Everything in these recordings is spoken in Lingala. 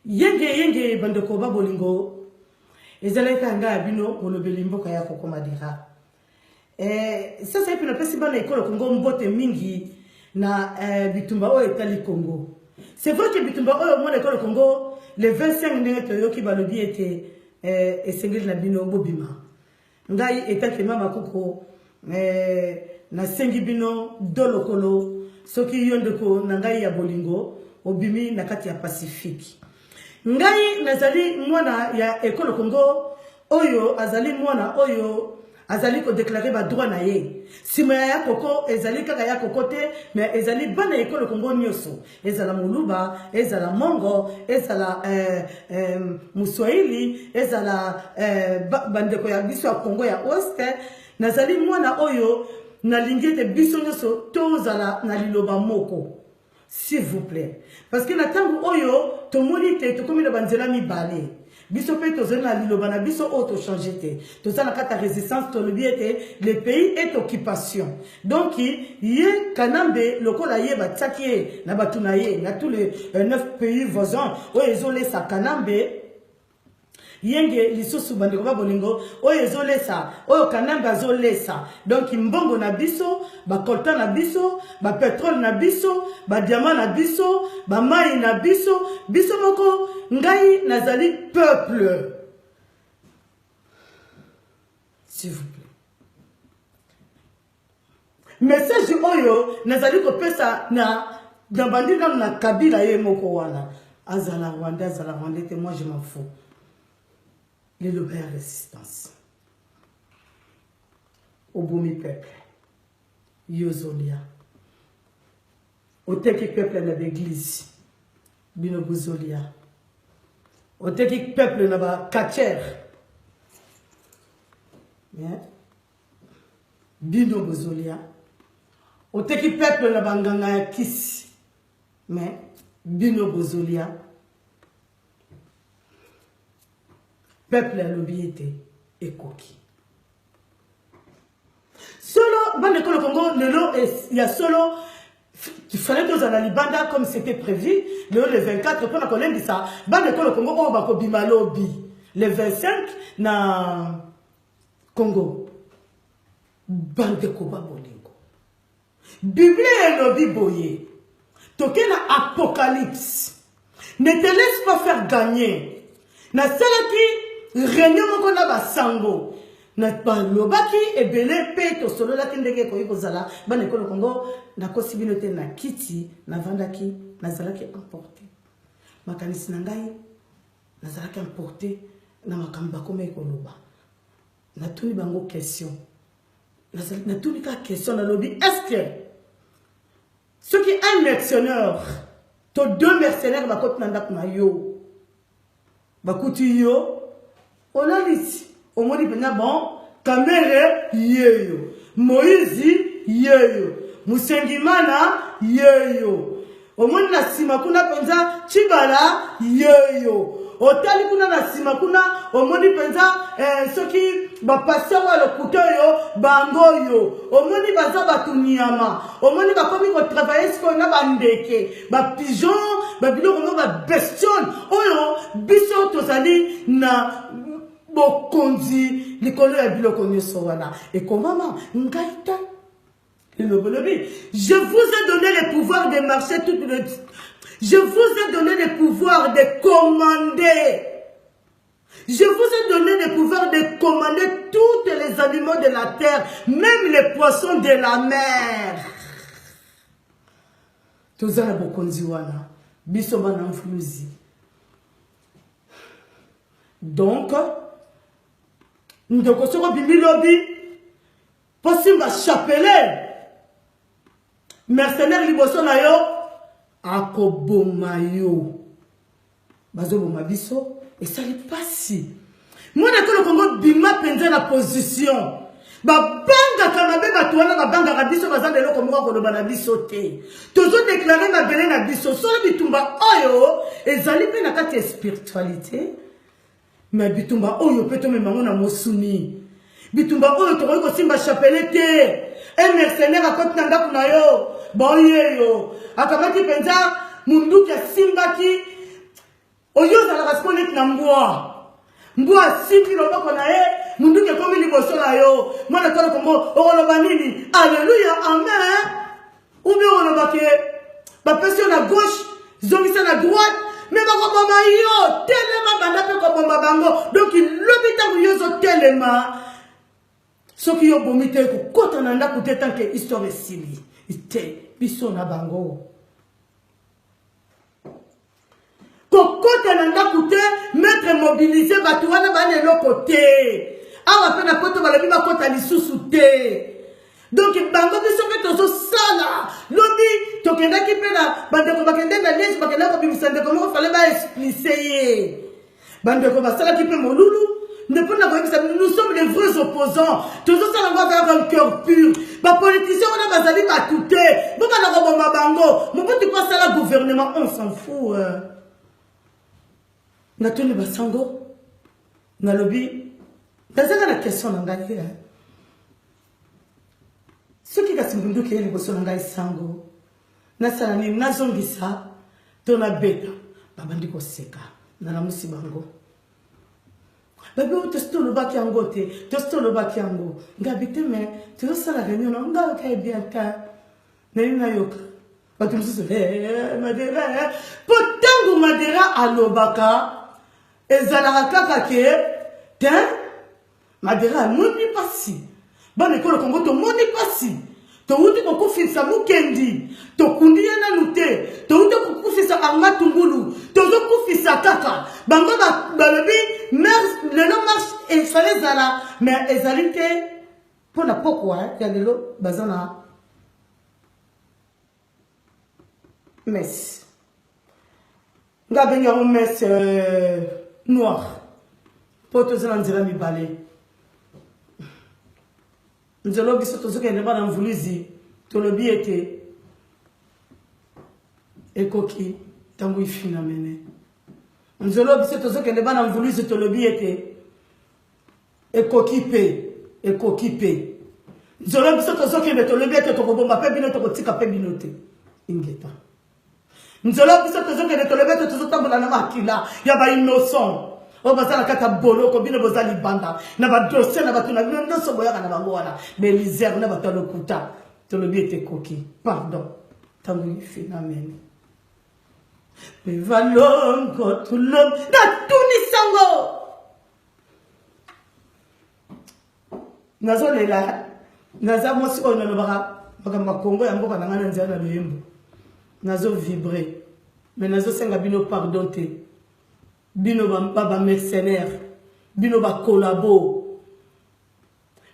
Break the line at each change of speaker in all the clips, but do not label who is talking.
yenge yenge bandeko ba bolingo ezalaki kaka ngai ya bino molobeli mboka ya kokoma dira eh, sasa epe napesi bana ekolo kongo mbote mingi na eh, bitumba oyo etali kongo c'est vrai ke bitumba oyo mwana ekolo kongo le 25 ndenge toyoki balobi ete eh, esengeli na bino bobima Ngai etake mama koko eh, nasengi bino do lokolo soki yo ndeko na ngai ya bolingo obimi na kati ya pacifique ngai nazali mwana ya ekolo kongo oyo azali mwana oyo azali kodeklare badroit na ye nsima ya ya koko ezali kaka ya koko te me ezali bana ekolo kongo nyonso ezala muluba ezala mongo ezala eh, eh, muswahili ezala eh, bandeko ya biso ya congo ya ost nazali mwana oyo nalingi ete biso nyonso tozala na liloba moko s'il vous plaît parce que na ntango oyo tomoni te tokomi na banzela mibale biso mpe tozali na liloba na biso oyo tochange te toza na kati ya résistance tolobi ete le pays est occupation donc ye kanambe lokola ye batiaki ye na bato na ye na tous les 9 euh, pays voisins oyo ezolesa kanambe yenge lisusu bandeko ba bolingo oyo ezolesa oyo kanambe azolesa donc mbongo na biso ba coltan na biso ba petrole na biso ba diamant na biso ba mai na biso biso moko ngai nazali peuple s'il vous plaît message oyo nazali kopesa na na bandi nano na kabila ye moko wana azala rwanda azala rwanda te moi je m'en fous liloba ya résistance obomi peuple yo ozolia oteki peuple na baeglise bino bozolia oteki peuple na bacatchere bino bozolia oteki peuple na banganga ya kisi me bino bozolia Peuple alobi ete ekoki. Solo bande ekolo Congo lelo ya solo il fallait tozala libanda comme c'était prévu lelo le 24 mpona kolendisa bande ekolo Congo oyo bakobima lobi le 25 na Congo bandeko babolingo Biblia elobi boye, toke na Apocalypse. Ne te laisse pas faire gagner. Nasalaki reunion moko na basango balobaki ebele mpe tosololaki ndenge ekoki kozala bana ekolo kongo nakosi bino te na kiti navandaki nazalaki emporte makanisi na ngai nazalaki emporte na makambo bakomaki koloba natuni bango question nazali natuni kaka question nalobi est-ce que soki un mercenaire to deux mercenaires bakoti na ndako na yo bakuti yo olalisi omoni mpenza bon kamere yeyo moïse yeyo musengimana yeyo omoni na nsima kuna mpenza cibala yeyo otali kuna na nsima kuna omoni mpenza eh, soki bapasteur oyo lokuta oyo bango oyo omoni baza bato nyama omoni bakomi kotravaille sikoyo na bandeke bapigeon babiloko mo babestiole oyo biso tozali na bokonzi likolo ya biloko nyonso wana ekomama ngai te Je vous ai donné le pouvoir de marcher tout le... Je vous ai donné le pouvoir de commander. Je vous ai donné le pouvoir de commander tous les animaux de la terre, même les poissons de la mer. tozala bokonzi wana biso bana mfuluzi donc ndeko soki obimi lobi Po simba chapelet. Mercenaire liboso na yo akoboma yo. Bazoboma biso esali pasi. Mwana ekolo Kongo bima penza na position. babangaka mabe bato wana babangaka biso baza na eloko moko koloba na biso te tozodeklare mabele na biso solo bitumba oyo ezali mpe na kati ya spiritualité me bitumba oyo mpe tomema yango na mosuni bitumba oyo tokoki kosimba chapele te e mercenaire akoti na ndako na yo boyeyo akamati mpenza monduki asimbaki oyo ozalaka siko neti na mbwa mbwa asimbi loboko na ye monduki ekomi liboso na yo mwana tolo kongo okoloba nini aleluya amen Ou bien on a que ba pression à gauche, zongisa na droite, mais ba ko boma yo, telema banda pe ko boma bango. Donc lobi tango yo zo telema. Soki yo bomi te ko kota na ndako te tant que histoire esili. Te biso na bango. kokota na ndako te metre mobilise bato wana bana eloko te awa mpe na poto balobi bakota lisusu te donk bango biso mpe tozosala lobi tokendaki mpe na bandeko bakende na liege bakenda kobimisa ndeko moko fale baexplise ye Bandeko basalaki mpe molulu nde mpo na koyebisa nous sommes des vrais opposants tozosala ngo azalaka cœur pur bapoliticien wana bazali bato te bobanda koboma bango mobutu mpo asala gouvernement on s'en fou euh. natuni basango nalobi nazanga na question na ngai euh. soki kasi mbunduki eye liboso na ngai sango Nasala nini? Nazongisa to nabeta? Babandi koseka, nalamusi bango. Babi oyo tosi tolobaki yango te, tosi tolobaki yango. Ngabi te, me tozosala reunion na ngai okaye bien te. Nani nayoka? Bato mosusu, eh, Madera, eh. Po ntango Madera alobaka, ezalaka kaka ke, te, Madera amoni mpasi. Bana ekolo Kongo tomoni mpasi. Towuti kokufisa Mukendi, tokundi ye nanu te. Towuti kokufisa Armand Tungulu, tozokufisa kaka. Bango balobi lelo marche efale ezala, mais ezali te mpo na pokwa ya lelo baza na messe nga abengi yango messe euh, noir mpo toza na nzela mibale nzela oyo biso tozokende bana mvuluzi tolobi ete ekoki ntango ifina mene nzela oyo biso tozokende bana mvuluzi tolobi ete ekoki mpe ekoki mpe nzolo biso tozokende tolobi ete tokobomba mpe bino tokotika mpe bino te ingeta nzolo biso tozokende tolobi ete tozotambola na makila ya bainnoson oyo baza na kati ya boloko bino boza libanda na badosie na bato na bino nyonso boyaka na bango wana belizer na bato ya lokuta tolobi ete ekoki pardon ntango ifinamene mivalongo tulom natunisango nazolela naza mwasi oyo nalobaka makambo ya kongo ya mboka na ngai na nzela na loyembo nazo vibre mais nazosenga bino pardon te bino bamercenaire bino bakolabo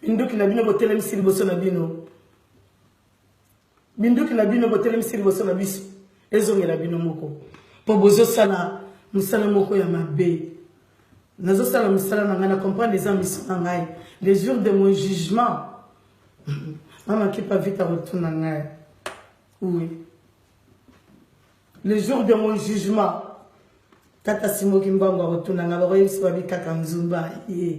minduki na bino botelemisi liboso na bino Minduki na bino botelemisi liboso na biso ezongela bino moko mpo bozosala mosala moko ya mabe nazosala mosala na ngai na comprendre eza miso na ngai le jour de mon jugement mama kipa vite akotuna ngai oui le jour de mon jugement tata simoki mbango akotuna ngai bakoyebisi babi kaka nzumba ye yeah.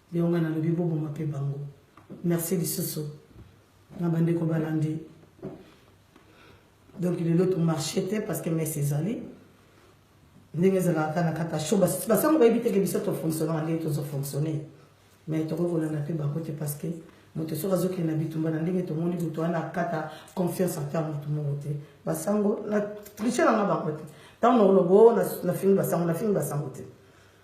Yango nga nalobi boboma pe bango. Merci lisusu na bandeko balandi. Donc lelo to marché te parce que messe ezali. ndenge ezalaka kaka na kata sho basango bayebi teke biso tofonctionnaka ndenge tozofonctionne mais tokoki kolanda mpe bango te parce que moto soki azokende na bitumba na ndenge tomoni moto wana akata confiance ata ya moto moko te basango na triche nanga bango te ntango nakoloba o oh, nafingi basango nafingi basango te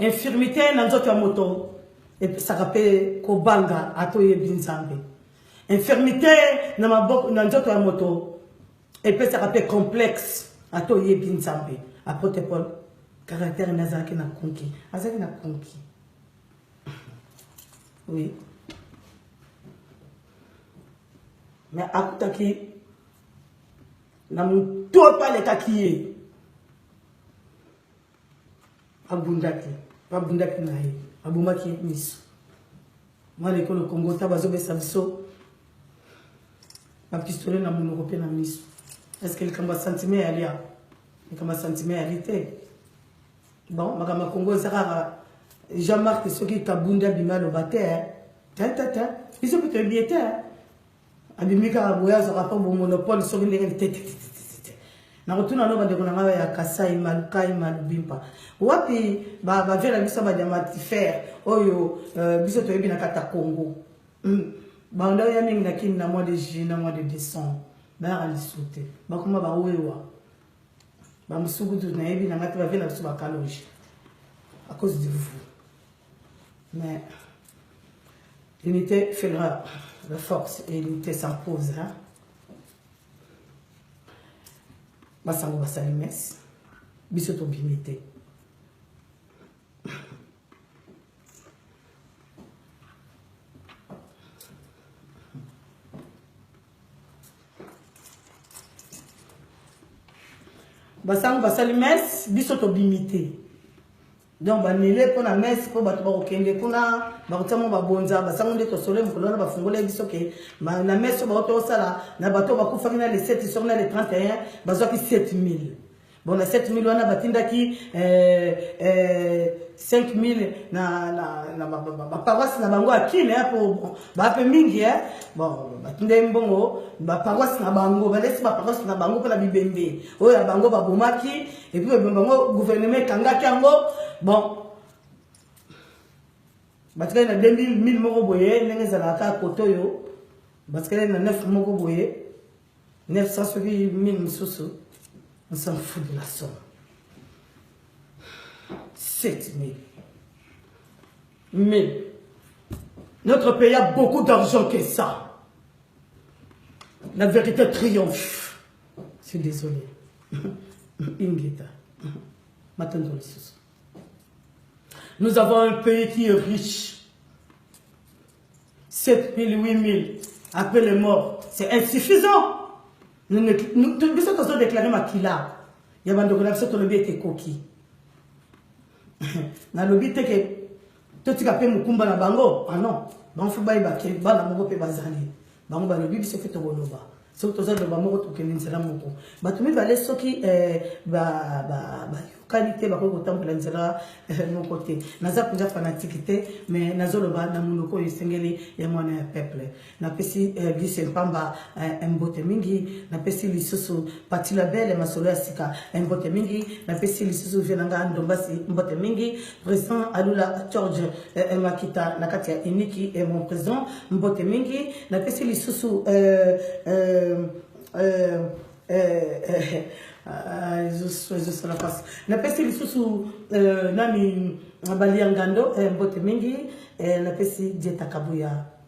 infirmité na nzoto ya moto epesaka mpe kobanga ata oyebi nzambe infirmité na maboko na nzoto ya moto epesaka mpe complexe ata oyebi nzambe apotre paul caractère ne azalaki na konki azalaki na konki oui mais akutaki na mototo alekaki ye abundaki babundaki na ye abomaki miso mwana ekolo kongo ta bazobesa biso bapistole na monoko mpe na miso eske likambo ya sentime yali a likambo ya sentime yali te bon makambo ya kongo eza kaka jean marc soki kabunda bima aloba te tete biso mpe toyebi ye te abimi kaka boye azwaka mpo bomonopole soki ndenge litetetete nakotuna no bandeko na ngai ya kasai malukai malubimpa wapi bavie na biso badiamatifere oyo euh, biso toyebi na kata congo hmm. banda oya mingi na kini na mois de juillet na mois de décembre bayaka lisu te bakoma bawewa bamosukutu nayebi na ngai te bavie na biso bakaloge à cause de vous Mais l'unité fera la force et l'unité s'impose. Hein? basango basali messe biso tobimi te basango basali messe biso tobimi te donc banile mpo na messe mpo bato bakokende kuna bakotia mwa babonza basango nde tosole mokolo wana bafungolaki biso ke na messe oyo bauti osala na bato oyo bakufaki na le 7 soki na le 31 bazwaki 7000 bon na 7000 wana batindaki 5000 eh, eh, na baparoise na bango ya kine mpo bape mingi eh. bon batindaki mbongo baparoise na bango balesi baparoise na bango mpo na bibembe oyo ya bango babomaki Et puis le bango gouvernement ekangaki yango bon batikali na 2000 moko boye ndenge ezalaka kaka kote oyo batikali na 9 moko boye 900 soki 1000 mosusu on s'en fout de la somme 7000 mais notre pays a beaucoup d'argent que ça la vérité triomphe suis désolé ingeta matondo lisusu nous avons un pays qui est riche 7000 8000 après les morts c'est insuffisant biso tozo déclare makila ya bandeko na biso tolobi ete ekoki nalobi te ke totika mpe mokumba na bango ah non bango fo bayeba ke bana moko mpe bazali bango balobi biso mpe tokoloba soki toza loba moko tokende nzela moko bato mibale soki eh, bayokani te bakoki kotambola nzela eh, moko te naza mpenza fanatike te mais nazoloba na monoko oyo esengeli ya mwana ya peuple napesi eh, lise mpamba eh, mbote mingi napesi lisusu pati la bele masolo ya sika eh, mbote mingi napesi lisusu vie na ngai ndombasi mbote mingi président alula george eh, eh makita na kati ya iniki eh, mon président mbote mingi napesi lisusu eh, eh, eh, eh, eh, Ah, ezosala mpasi napesi lisusu eh, nani baliangando eh, mbote mingi eh, napesi dieta kabuya